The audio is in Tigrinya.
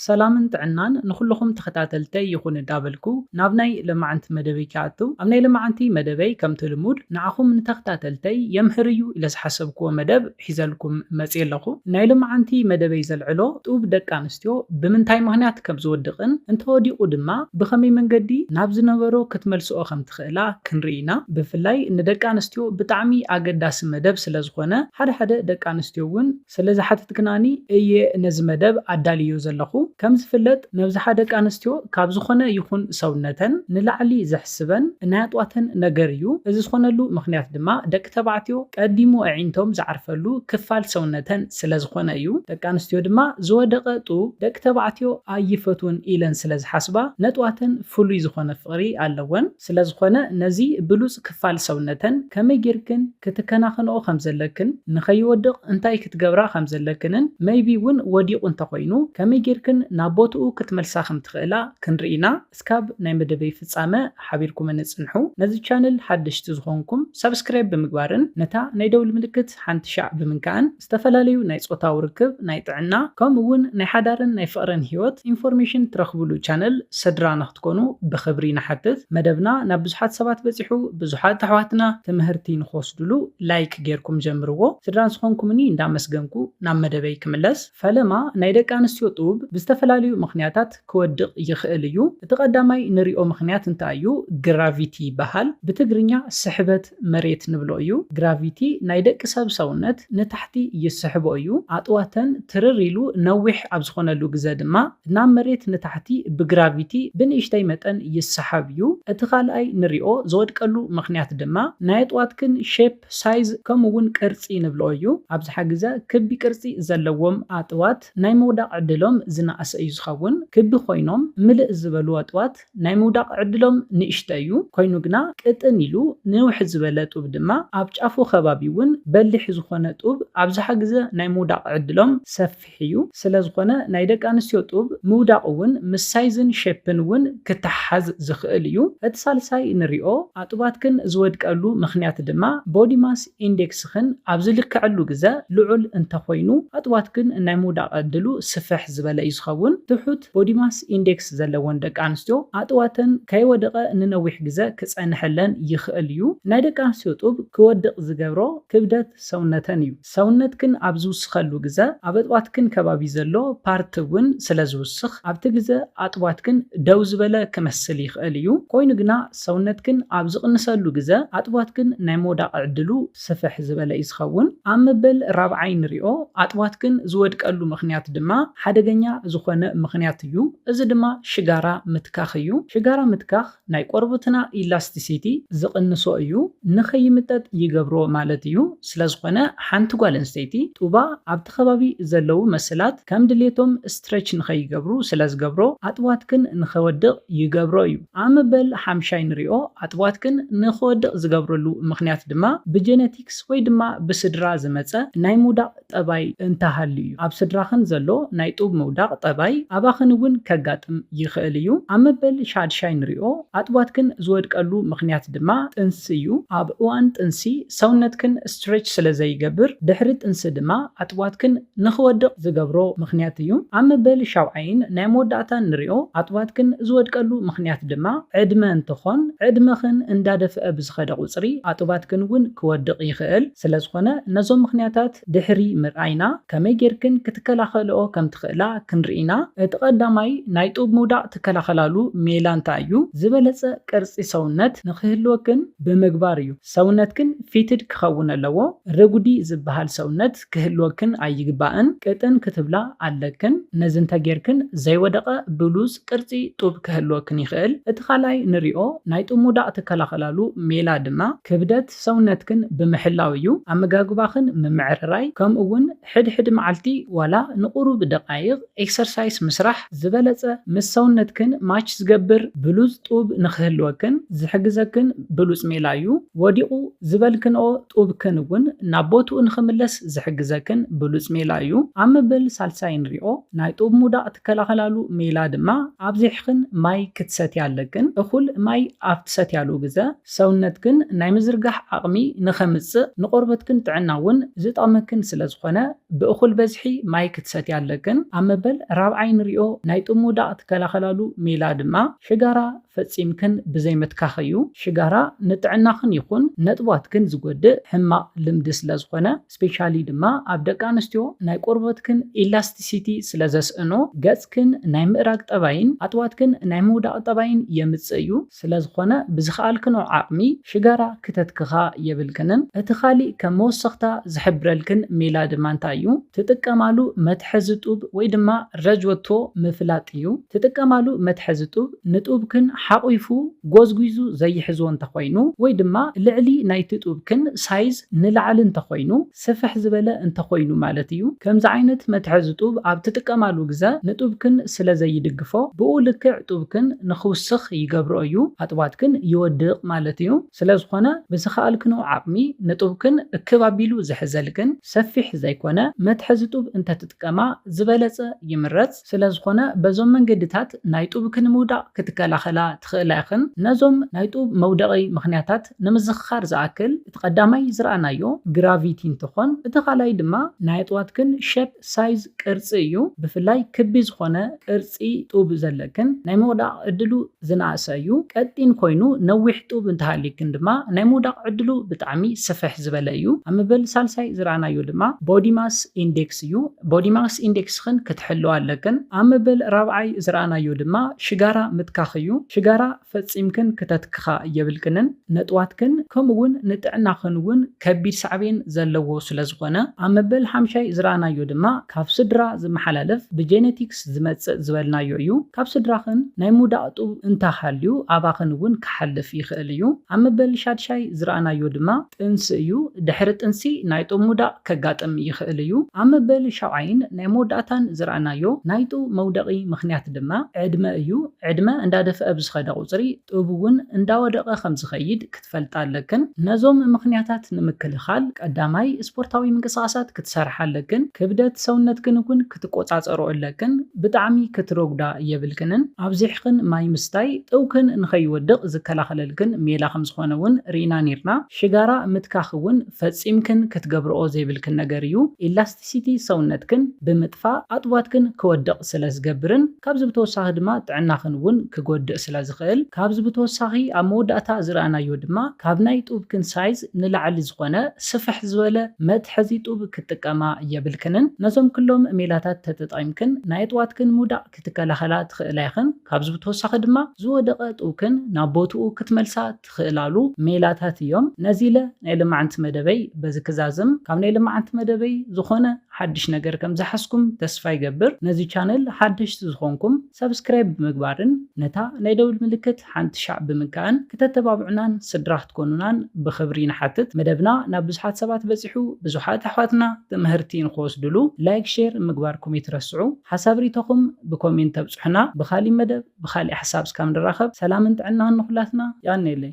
ሰላምን ጥዕናን ንኹሉኹም ተኸታተልተይ ይኹን እዳበልኩ ናብ ናይ ለማዕንቲ መደበይ ክኣትው ኣብ ናይ ለማዕንቲ መደበይ ከምቲ ልሙድ ንዓኹም ንተኽታተልተይ የምህር እዩ ኢለ ዝሓሰብክዎ መደብ ሒዘልኩም መጽየ ኣለኹ ናይ ለማዕንቲ መደበይ ዘልዕሎ ጡብ ደቂ ኣንስትዮ ብምንታይ ምኽንያት ከም ዝወድቕን እንተወዲቑ ድማ ብኸመይ መንገዲ ናብ ዝነበሮ ክትመልስኦ ከም ትኽእላ ክንርኢ ኢና ብፍላይ ንደቂ ኣንስትዮ ብጣዕሚ ኣገዳሲ መደብ ስለ ዝኾነ ሓደ ሓደ ደቂ ኣንስትዮ ውን ስለ ዝሓተትክናኒ እየ ነዚ መደብ ኣዳልየዮ ዘለኹ። ከም ዝፍለጥ መብዝሓ ደቂ ኣንስትዮ ካብ ዝኾነ ይኹን ሰውነተን ንላዕሊ ዘሕስበን እናያጥዋተን ነገር እዩ። እዚ ዝኾነሉ ምኽንያት ድማ ደቂ ተባዕትዮ ቀዲሙ ኣዒንቶም ዝዓርፈሉ ክፋል ሰውነተን ስለ ዝኾነ እዩ። ደቂ ኣንስትዮ ድማ ዝወደቐ ጡብ ደቂ ተባዕትዮ ኣይፈትዉን ኢለን ስለ ዝሓስባ ነጥዋተን ፍሉይ ዝኾነ ፍቕሪ ኣለወን። ስለዝኾነ ነዚ ብሉጽ ክፋል ሰውነተን ከመይ ጌርክን ክትከናኸንኦ ከም ዘለክን ንኸይወድቕ እንታይ ክትገብራ ከም ዘለክንን መይቢ ውን ወዲቑ እንተኾይኑ ከመይ ጌርክን ናብ ቦትኡ ክትመልሳ ከም ትኽእላ ክንርኢ ኢና እስካብ ናይ መደበይ ፍጻመ ሓቢርኩምኒ ጽንሑ ነዚ ቻነል ሓደሽቲ ዝኾንኩም ሳብስክራይብ ብምግባርን ነታ ናይ ደውል ምልክት ሓንቲ ሻዕ ብምንካእን ዝተፈላለዩ ናይ ጾታዊ ርክብ፣ ናይ ጥዕና፣ ከምኡ ውን ናይ ሓዳርን ናይ ፍቕርን ሂወት ኢንፎርሜሽን ትረኽብሉ ቻነል ስድራ ንክትኮኑ ብኽብሪ ንሓትት። መደብና ናብ ብዙሓት ሰባት በጺሑ ብዙሓት ኣሕዋትና ትምህርቲ ንክወስድሉ ላይክ ጌርኩም ጀምርዎ። ስድራ ዝኾንኩምኒ እንዳመስገንኩ ናብ መደበይ ክምለስ። ፈለማ ናይ ደቂ ኣንስትዮ ጡብ ብዝተፈላለዩ ምኽንያታት ክወድቕ ይኽእል እዩ። እቲ ቀዳማይ ንሪኦ ምኽንያት እንታይ እዩ? ግራቪቲ ይበሃል። ብትግርኛ ስሕበት። መሬት ንብሎ እዩ። ግራቪቲ ናይ ደቂ ሰብ ሰውነት ንታሕቲ ይስሕቦ እዩ። ኣጥዋተን ትርር ኢሉ ነዊሕ ኣብ ዝኾነሉ ግዘ ድማ ናብ መሬት ንታሕቲ ብግራቪቲ ብንእሽተይ መጠን ይሰሓብ እዩ። እቲ ካልኣይ ንሪኦ ዝወድቀሉ ምኽንያት ድማ ናይ ኣጥዋትክን ሼፕ፣ ሳይዝ ከምኡ እውን ቅርፂ ንብሎ እዩ። ኣብዝሓ ግዘ ክቢ ቅርፂ ዘለዎም ኣጥዋት ናይ ምውዳቕ ዕድሎም ዝነኣሰ እዩ ዝኸውን። ክቢ ኮይኖም ምልእ ዝበሉ ኣጥዋት። ናይ ምውዳቕ ዕድሎም ንእሽተይ እዩ፣ ኮይኑ ግና ቅጥን ኢሉ ንውሕ ዝበለ ጡብ ድማ ኣብ ጫፉ ከባቢ እውን በሊሕ ዝኾነ ጡብ ኣብዝሓ ግዘ ናይ ምውዳቕ ዕድሎም ሰፊሕ እዩ። ስለዝኾነ ናይ ደቂ ኣንስትዮ ጡብ ምውዳቕ እውን ምስ ሳይዝን ሼፕን እውን ክተሓሓዝ ዝኽእል እዩ። እቲ ሳልሳይ ንሪኦ ኣጡባትክን ዝወድቀሉ ምኽንያት ድማ ቦዲ ማስ ኢንዴክስኽን ኣብ ዝልከዐሉ ግዘ ልዑል እንተኾይኑ ኣጡባትክን ናይ ምውዳቕ ዕድሉ ስፍሕ ዝበለ እዩ ዝኸውን፣ ትሑት ቦዲ ማስ ኢንዴክስ ጸገማት ዘለወን ደቂ ኣንስትዮ ኣጥዋተን ከይወደቐ ንነዊሕ ግዘ ክጸንሐለን ይኽእል እዩ። ናይ ደቂ ኣንስትዮ ጡብ ክወድቕ ዝገብሮ ክብደት ሰውነተን እዩ። ሰውነትክን ኣብ ዝውስኸሉ ግዘ ኣብ ኣጥዋትክን ከባቢ ዘሎ ፓርት እውን ስለ ዝውስኽ ኣብቲ ግዘ ኣጥዋትክን ደው ዝበለ ክመስል ይኽእል እዩ። ኮይኑ ግና ሰውነትክን ኣብ ዝቕንሰሉ ግዘ ኣጥዋትክን ናይ ምውዳቕ ዕድሉ ስፍሕ ዝበለ እዩ ዝኸውን። ኣብ መበል ራብዓይ ንሪኦ፣ ኣጥባት ግን ዝወድቀሉ ምኽንያት ድማ ሓደገኛ ዝኾነ ምኽንያት እዩ። እዚ ድማ ሽጋራ ምትካኽ እዩ። ሽጋራ ምትካኽ ናይ ቆርቡትና ኢላስቲሲቲ ዝቕንሶ እዩ፣ ንኸይምጠጥ ይገብሮ ማለት እዩ። ስለዝኾነ ሓንቲ ጓል ኣንስተይቲ ጡባ ኣብቲ ከባቢ ዘለዉ መሰላት ከም ድሌቶም ስትረች ንኸይገብሩ ስለዝገብሮ ኣጥባትክን ንኸወድቕ ይገብሮ እዩ። ኣብ መበል ሓምሻይ ንሪኦ፣ ኣጥባት ግን ንክወድቕ ዝገብረሉ ምኽንያት ድማ ብጀነቲክስ ወይ ድማ ብስድራ ዝመጸ ናይ ምውዳቕ ጠባይ እንተሃልዩ እዩ። ኣብ ስድራኽን ዘሎ ናይ ጡብ ምውዳቕ ጠባይ ኣባኽን እውን ከጋጥም ይኽእል እዩ። ኣብ መበል ሻድሻይ ንሪኦ፣ ኣጥባትክን ዝወድቀሉ ምኽንያት ድማ ጥንሲ እዩ። ኣብ እዋን ጥንሲ ሰውነትክን ስትሬች ስለዘይገብር፣ ድሕሪ ጥንሲ ድማ ኣጥባትክን ንኽወድቕ ዝገብሮ ምኽንያት እዩ። ኣብ መበል ሻውዓይን ናይ መወዳእታን ንሪኦ ኣጡባትክን ዝወድቀሉ ምኽንያት ድማ ዕድመ እንትኾን ዕድመኽን እንዳደፍኣ ብዝኸደ ቁፅሪ ኣጡባትክን እውን ክወድቕ ይኽእል። ስለዝኾነ ነዞም ምኽንያታት ድሕሪ ምርኣይና ከመይ ጌርክን ክትከላኸልኦ ከምትኽእላ ክንርኢ ኢና። እቲ ቀዳማይ ናይ ጡብ ምውዳቕ ትከላኸላሉ ሜላ እንታይ እዩ? ዝበለፀ ቅርፂ ሰውነት ንኽህልወክን ብምግባር እዩ። ሰውነትክን ፊትድ ክኸውን ኣለዎ። ረጉዲ ዝበሃል ሰውነት። ትዕግስት ክህልወክን ኣይግባእን ቅጥን ክትብላ ኣለክን ነዚ እንተጌርክን ዘይወደቀ ብሉጽ ቅርጺ ጡብ ክህልወክን ይክእል እቲ ካልኣይ ንሪኦ ናይ ጥሙዳቅ ትከላከላሉ ሜላ ድማ ክብደት ሰውነትክን ብምሕላው እዩ ኣመጋግባክን ምምዕርራይ ከምኡ ውን ሕድ ሕድ መዓልቲ ዋላ ንቁሩብ ደቃይቅ ኤክሰርሳይስ ምስራሕ ዝበለጸ ምስ ሰውነትክን ማች ዝገብር ብሉጽ ጡብ ንክህልወክን ዝሕግዘክን ብሉጽ ሜላ እዩ ወዲቁ ዝበልክንኦ ጡብክን እውን ናብ ቦትኡ ንኽምለስ ዝሕግዘክን ብሉጽ ሜላ እዩ። ኣብ መበል ሳልሳይ ንሪኦ። ናይ ጡብ ምውዳቕ ትከላኸላሉ ሜላ ድማ ኣብዚሕክን ማይ ክትሰትያ ኣለክን። እኹል ማይ ኣብ ትሰትያሉ ግዘ ሰውነትክን ናይ ምዝርጋሕ ዓቕሚ ንኸምጽእ ንቆርበትክን ጥዕና እውን ዝጠቕመክን ስለ ዝኾነ ብእኹል በዝሒ ማይ ክትሰትያ ኣለክን። ኣብ መበል ራብዓይ ንሪኦ። ናይ ጡብ ምውዳቕ ትከላኸላሉ ሜላ ድማ ሽጋራ ፈጺምክን ብዘይምትካኽ እዩ። ሽጋራ ንጥዕናኽን ይኹን ነጥቧትክን ዝጎድእ ሕማቕ ልምዲ ስለዝኾነ፣ ስፔሻሊ ድማ ኣብ ደቂ ኣንስትዮ ናይ ቆርቦትክን ኢላስቲሲቲ ስለዘስእኖ ገጽክን ናይ ምእራግ ጠባይን ኣጥዋትክን ናይ ምውዳቕ ጠባይን የምጽእ እዩ። ስለዝኾነ ብዝኸኣልክንኦ ዓቕሚ ሽጋራ ክተትክኻ የብልክንን። እቲ ኻሊእ ከም መወሰኽታ ዝሕብረልክን ሜላ ድማ እንታይ እዩ? ትጥቀማሉ መትሐዚ ጡብ ወይ ድማ ረጅወቶ ምፍላጥ እዩ። ትጥቀማሉ መትሐዚ ጡብ ንጡብክን ሓቝፉ፣ ጎዝጒዙ፣ ዘይሕዞ እንተኾይኑ ወይ ድማ ልዕሊ ናይቲ ጡብክን ሳይዝ ንላዕሊ እንተኾይኑ፣ ስፍሕ ዝበለ እንተ ኾይኑ ማለት እዩ። ከምዚ ዓይነት መትሐዚ ጡብ ኣብ ትጥቀማሉ ግዘ ንጡብክን ስለ ዘይድግፎ ብኡ ልክዕ ጡብክን ንኽውስኽ ይገብሮ እዩ። ኣጥባትክን ይወድቕ ማለት እዩ። ስለ ዝኾነ ብዝኸኣልክንኦ ዓቕሚ ንጡብክን እክብ ኣቢሉ ዝሕዘልክን ሰፊሕ ዘይኮነ መትሐዚ ጡብ እንተ ትጥቀማ ዝበለፀ ይምረፅ። ስለዝኾነ በዞም መንገድታት ናይ ጡብኪ ንምውዳቕ ክትከላኸላ ትኽእላ ኢኽን። ነዞም ናይ ጡብ መውደቒ ምኽንያታት ንምዝኽኻር ዝኣክል፣ እቲ ቀዳማይ ዝረኣናዮ ግራቪቲ እንትኾን፣ እቲ ካልኣይ ድማ ናይ ኣጥዋትክን ሸፕ፣ ሳይዝ፣ ቅርጺ እዩ። ብፍላይ ክቢ ዝኾነ ቅርጺ ጡብ ዘለክን ናይ ምውዳቕ ዕድሉ። ዝነኣሰ እዩ። ቀጢን ኮይኑ ነዊሕ ጡብ እንተሃልዩክን ድማ ናይ ምውዳቕ ዕድሉ ብጣዕሚ ስፍሕ ዝበለ እዩ። ኣብ መበል ሳልሳይ ዝረኣናዮ ድማ ቦዲ ማስ ኢንዴክስ እዩ። ቦዲ ማስ ኢንዴክስኽን ክትሕልዋ ኣለክን። ኣብ መበል ራብዓይ ዝረኣናዮ ድማ ሽጋራ ምትካኽ እዩ። ሽጋራ ፈጺምክን ክተትክኻ የብልክንን። ነጥዋትክን ከምኡ እውን ንጥዕናኽን እውን ከቢድ ሳዕቤን ዘለዎ ስለዝኾነ፣ ኣብ መበል ሓምሻይ ዝረኣናዮ ድማ ካብ ስድራ ዝመሓላለፍ ብጄኔቲክስ ዝመጽእ ዝበልናዮ እዩ። ካብ ስድራኽን ናይ ምውዳቕ ጡብ እንተሃልዩ ኣባኽን እውን ክሓልፍ ይኽእል እዩ። ኣብ መበል ሻድሻይ ዝረኣናዮ ድማ ጥንሲ እዩ። ድሕሪ ጥንሲ ናይ ጡብ ምውዳቕ ከጋጥም ይኽእል እዩ። ኣብ መበል ሻውዓይን ናይ መወዳእታን ዝረኣናዮ ናይ ጡብ መውደቒ ምኽንያት ድማ ዕድመ እዩ። ዕድመ እንዳደፍኣ ብዝኸደ ቁጽሪ፣ ጡብ እውን እንዳወደቐ ከም ዝኸይድ ክትፈልጣ ኣለክን። ነዞም ምኽንያታት ንምክልኻል ቀዳማይ ስፖርታዊ ምንቅስቓሳት ክትሰርሓ ኣለክን። ክብደት ሰውነትክን እውን ክትቆፃፀርኦ ኣለክን። ብጣዕሚ ክትረጉዳ የብልክንን። ኣብዚሕኽን ማይ ምስታይ ጡብክን ንኸይወድቕ ዝከላኸለልክን ሜላ ከም ዝኾነ እውን ርኢና ነይርና። ሽጋራ ምትካኽ እውን ፈፂምክን ክትገብርኦ ዘይብልክን ነገር እዩ። ኢላስቲሲቲ ሰውነትክን ብምጥፋእ ኣጡባትክን ክወድቕ ስለ ዝገብርን። ካብዚ ብተወሳኺ ድማ ጥዕናኽን እውን ክጎድእ ስለ ዝኽእል። ካብዚ ብተወሳኺ ኣብ መወዳእታ ዝረኣናዮ ድማ ካብ ናይ ጡብክን ሳይዝ ንላዕሊ ዝኾነ ስፍሕ ዝበለ መትሐዚ ጡብ ክትጥቀማ የብልክንን። ነዞም ክሎም ሜላታት ተተጠቒምክን ናይ ኣጥዋትክን ምውዳቕ ክትከላኸላ ትኽእላ ኢኽን። ካብዚ ብተወሳኺ ድማ ዝወደቐ ጡብክን ናብ ቦትኡ ክትመልሳ ትኽእላሉ ሜላታት እዮም። ነዚ ኢለ ናይ ልማዓንቲ መደበይ በዚ ክዛዝም። ካብ ናይ ልማዓንቲ መደበይ ዝኾነ ሓድሽ ነገር ከም ዝሓዝኩም ተስፋ ይገብር። ነዚ ቻነል ሓደሽቲ ዝኾንኩም ሳብስክራይብ ብምግባርን ነታ ናይ ደውል ምልክት ሓንቲ ሻዕ ብምንካእን ክተተባብዑናን ስድራ ክትኮኑናን ብኽብሪ ንሓትት። መደብና ናብ ብዙሓት ሰባት በጺሑ ብዙሓት ኣሕዋትና ትምሀርቲ ንኽወስድሉ ላይክ ሼር ምግባርኩም ይትረስዑ። ሓሳብ ሪኢቶኹም ብኮሜንት ተብጹሑና ብኻሊእ መደብ። ብካሊእ ሓሳብ እስካብ ንራከብ ሰላምን ጥዕናን ንኩላትና የቀኔለይ።